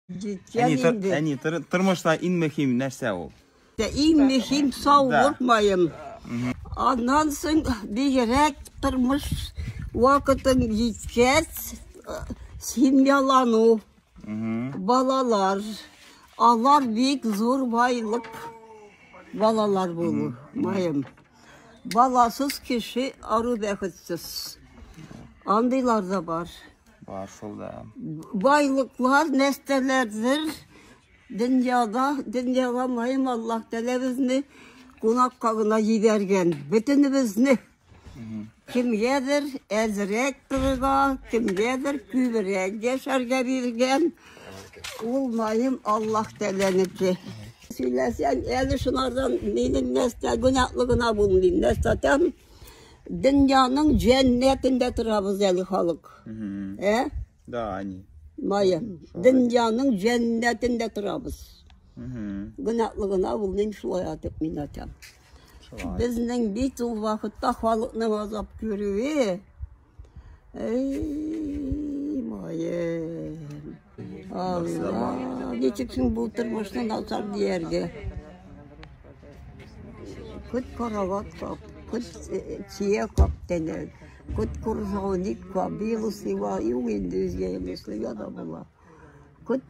Җиткән Әни, тор, инде. әни тор, тормышта иң мөһим нәрсә ул? Дә Иң мөһим саулык маем. Аннан соң бигрәк тормыш вакытын җиткәч, э, семьялану, балалар. Алар бик зур байлык балалар булу маем. Баласыз кеше ару бәхетсез. Андыйлар да бар. Бар шул да. Байлыклар, нәстәләрдер. Дөньяда, дөньяга мөһим Аллаһ Тәгалә безне кунакка гына җибәргән. Бөтенебезне кемгәдер әзрәк торырга, кемгәдер күбрәк яшәргә биргән. Ул мөһим Аллаһ Тәгаләнеке. Сөйләсәң, әле шунардан минем нәрсә гөнаһлы гына булмыйм, нәрсәтәм. Дөньяның җәннәтендә торабыз әле халык. Ә? Да, они. Майя, дөньяның җәннәтендә торабыз. Гөнаһлы гына ул мин шулай атып мин атам. Безнең бит ул вакытта халыкның азап күрүе Эй, моем. Алла, ничек соң бу тормышны начар дияргә? Күт карават кап, күт чия кап тәнәк, күт куржауник кап, бил усыва, юк инде үзгә емешле яда була. Күт